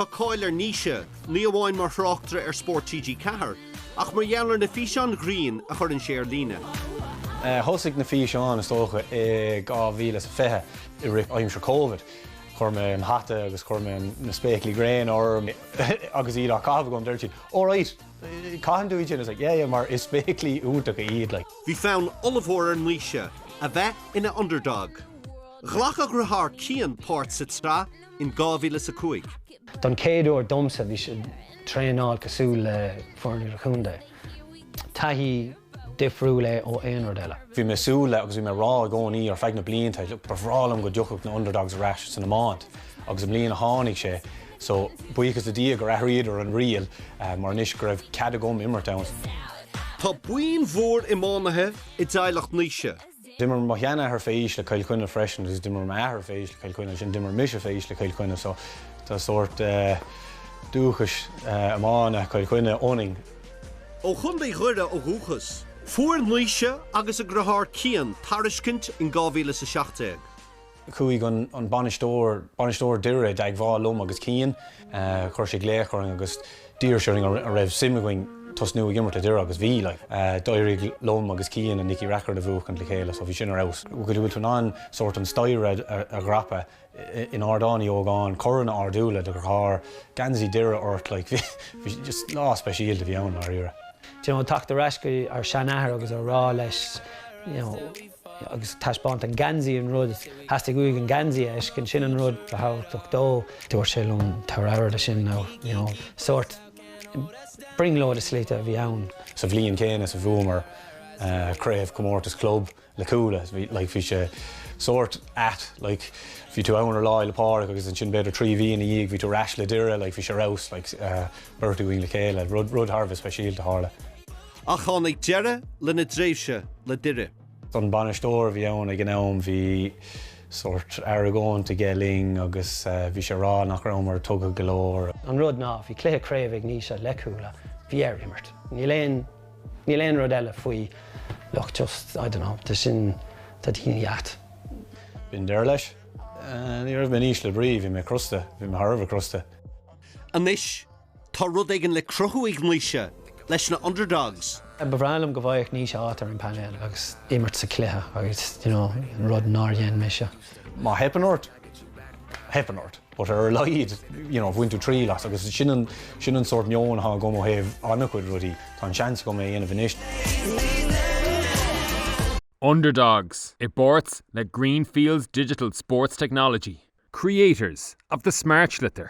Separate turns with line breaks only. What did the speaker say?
Tá cáil ar Naoise, ní amháin mar thráchtaire ar Spórt TG4, ach mar gheall ar na físeáin ghrinn a chuireann sé ar líne. Thosaigh
na físeáin, is dócha, i 2020, i rith aimsir Covid. Chuir mé an hata agus chuir mé na spéaclaí gréine orm agus iad á gcaitheamh agam. Dúirt siad, All right, caitheann tú iad sin? I was like, Yeah, yeah, mar is spéaclaí iontacha iad like. Bhí fonn ollmhór
ar Naoise a bheith ina underdog. Ghlac a dheartháir Cian páirt sa tsraith in 2005. Don
chéad uair domsa bhí sé traenáil cosúil le foireann idir-chontae. Taithí difriúil é ó aon rud eile. Bhí mé súil le agus bhí
mé rá i gcónaí ar feadh na blianta ba bhreá liom go dtiocfadh na Underdogs ar ais san iomáint agus i mbliana tháinig sé so buíochas le Dia gur athraíodar an riail mar anois go raibh cead agam imirt ann. Tá
buíon mhór iománaithe i dteaghlach Naoise. D'imir mo
sheanathair fé aois le Cill Chainnigh freisin agus d'imir m'athair fé aois le Cill Chainnigh agus ansin d'imir mise fé aois le Cill Chainnigh so tá sórt dúchas iomána Chill Chainnigh ionainn. Ó
Chontae Dhoire ó dhúchas. Fuair Naoise agus a dheartháir Cian tairiscint in 2017.
Chuaigh an bainisteoir, bainisteoir Dhoire, i dteagmháil liom agus Cian. Chuir sé glaoch orainn agus d'iarr sé orainn an raibh suim againn tosnú ag imirt le Doire agus bhí. D'éirigh liom agus Cian an Nicky Rackard a bhuachaint le chéile so bhí sin ar fheabhas. Go dtí go bhfuil tú in ann sórt an staighre a dhreapadh in Ardán Uí Ógáin, Corn a ardú le do dheartháir, geansaí Dhoire ort like bhí just lá speisialta a bhí ann i ndáiríre. Do you know, teacht ar ais
go dtí ár seanathair agus a rá leis you know, agus taispeáint an geansaí an rud is theastaigh uaidh an geansaí a fheiscint, sin an rud ba thábhachtach dó. Dúirt sé liom tar éis sin now, you know, sórt brionglóid i slite a bhí ann. Sa bhliain chéanna is
a bhuamar craobh comórtas club le Cuala, like, bhí sé sórt ait, like, bhí tú ann ar Lá Fhéile Pádraig agus ansin b'fhéidir trí mhí ina dhiaidh bhí tú ar ais le Doire, like, bhí sé ar fheabhas, like, beirt againn le chéile, rud, rud thar a bheith speisialta a tharla. Ach
tháinig deireadh lena dtréimhse le Doire. An
bainisteoir a bhí ann ag an am, bhí sórt argóint aige linn agus bhí sé ag rá nach rabhamar tugtha go leor. An rud ná, bhí cluiche
craoibhe ag Naoise le Cuala, bhí air imirt. Níl aon, níl aon rud eile faoi, look just, I dunno, tá sin, tá daoine ait. B'in deireadh
leis. Ní raibh mé in ísle brí, bhí mé crosta, bhí mé thar a bheith crosta. Anois,
Tá rud éigin le cruthú ag Naoise leis na underdogs. Ba bhreá liom go bhfaigheadh
Naoise áit ar an bpainéal agus imirt sa chluiche agus you know an rud nár dhein mise. Má theipeann ort,
theipeann ort but ar a laghad you know bhain tú triail as agus sin an sórt meoin atá agam ó thaobh an-chuid rudaí, tá an seans agam é a dhéanamh anois.
Underdogs i bpáirt le Greenfields Digital Sports Technology, creators of the smartsliotar.